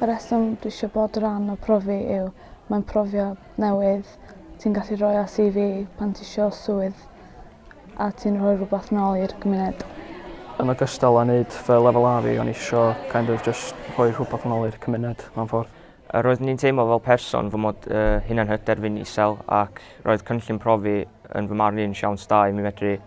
Y rheswm dwi eisiau bod rhan o profi yw mae'n profiad newydd ti'n gallu rhoi ar CV pan ti isio swydd a ti'n rhoi rhywbeth nôl i'r gymuned. Yn ogystal â wneud fy lefel A fi, o'n i isio kind of just rhoi rhywbeth yn ôl i'r cymuned mewn ffordd. A roedd ni'n teimlo fel person fy mod uh, hunan hyder fi'n isel ac roedd cynllun profi yn fy marn i'n siawns da i mi medru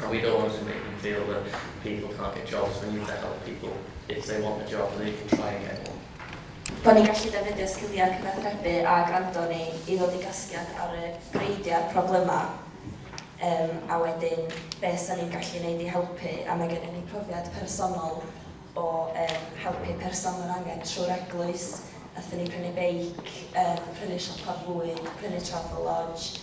Are we going to make them feel that people can't get jobs, we need to help people if they want a job they can try and get one. Bod ni'n gallu defnyddio sgiliau cyfathrebu a gwrando ni i ddod i gasgliad ar y greidiau problemau um, a wedyn beth sy'n ni'n gallu gwneud i helpu a mae gennym ni profiad personol o um, helpu person mewn angen trwy'r eglwys Athyn ni prynu beic, um, prynu siopa bwyd, prynu travel lodge,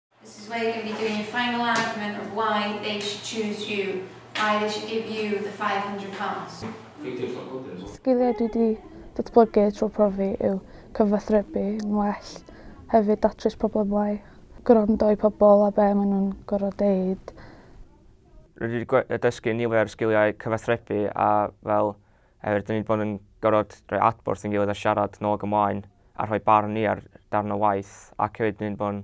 This is where you're going to be doing your final argument of why they should choose you, why they should give you the £500. Sgiliau dwi wedi datblygu trwy profi yw cyfathrebu yn well, hefyd datrys problemau, gwrando i pobl a be maen nhw'n gorfod deud. Rydw i wedi dysgu nifer o sgiliau cyfathrebu a fel Oherwydd dan ni 'di bod yn gorfod rhoi adborth i'n gilydd a siarad nôl ac ymlaen a rhoi barn ni ar darn o waith ac hefyd dan ni 'di bod yn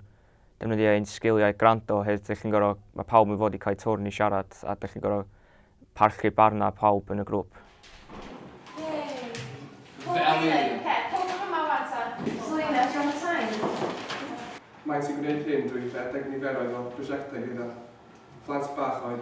defnyddio ein sgiliau gwrando oherwydd dych chi'n gorfod, mae pawb yn fod i cael twrn i siarad a dych chi'n gorfod parchu barnau pawb yn y grŵp. Maent yn gwneud hyn drwy redeg niferoedd o brosiectau gyda phlant bach oed.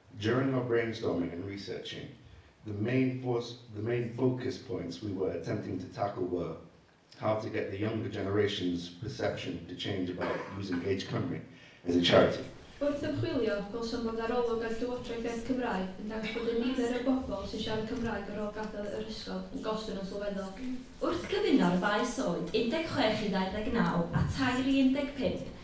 During our brainstorming and researching, the main fos, the main focus points we were attempting to tackle were how to get the younger generation's perception to change about using Age Cymru as a charity. Wrth ymchwilio, gwelsom fod arolwg ar Llywodraeth Iaith Cymraeg yn dangos bod y nifer o bobl sy'n siarad Cymraeg ar ôl gadael yr ysgol yn gostwng yn sylweddol. Wrth gyfuno'r ddau sôn, 16 i 29 a tair i 15,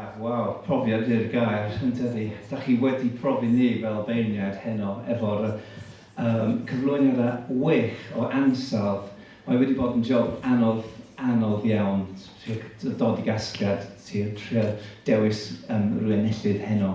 Af, waw, profiad yw'r gair, yn dydi? Dach chi wedi profi ni fel beirniaid heno efo'r yym cyflwyniad a wych o ansawdd. Mae wedi bod yn job anodd, anodd iawn trio dod i gasgliad, trio dewis yym rywun enillydd heno.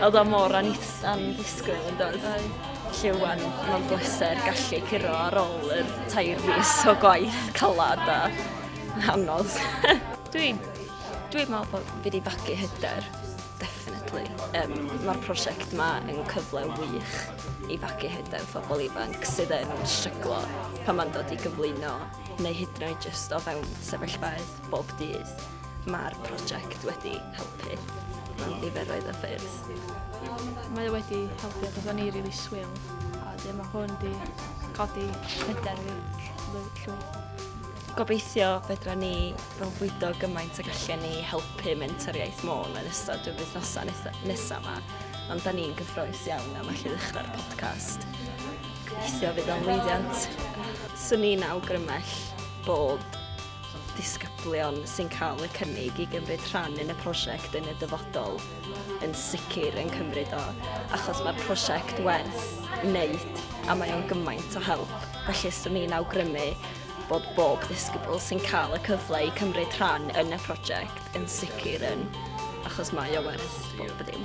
Oedd o mor anddisgwyl yn doedd? Felly wan, mae'n bleser gallu curo ar ôl yr tair fus o gwaith calad a anodd. Dwi, dwi'n meddwl bod fi wedi fagu hyder, definitely. Um, Mae'r prosiect yma yn cyfle wych i fagu hyder phobl ifanc sydd yn stryglo pan mae'n dod i gyflwyno neu hyd yn oed jyst o fewn sefyllfaoedd. bob dydd. Mae'r prosiect wedi helpu mewn niferoedd o ffyrdd. Mae o wedi helpu achos o'n i rili swil a wedyn mae hwn wedi codi hyder fi llwyr. Gobeithio fedra ni fwydo gymaint ag allan ni helpu Mentor Iaith Môn yn ystod y wythnosau nesaf yma. Ond da ni'n gyffroes iawn am allu ddechrau'r podcast. Gobeithio fydd o'n lwyddiant. Swn i'n awgrymell bod disgyblion sy'n cael y cynnig i gymryd rhan yn y prosiect yn y dyfodol yn sicr yn cymryd o, achos mae'r prosiect werth wneud a mae o'n gymaint o help. Felly, swn i'n awgrymu bod bob ddisgybl sy'n cael y cyfle i cymryd rhan yn y prosiect yn sicr yn, achos mae o werth bob ddim.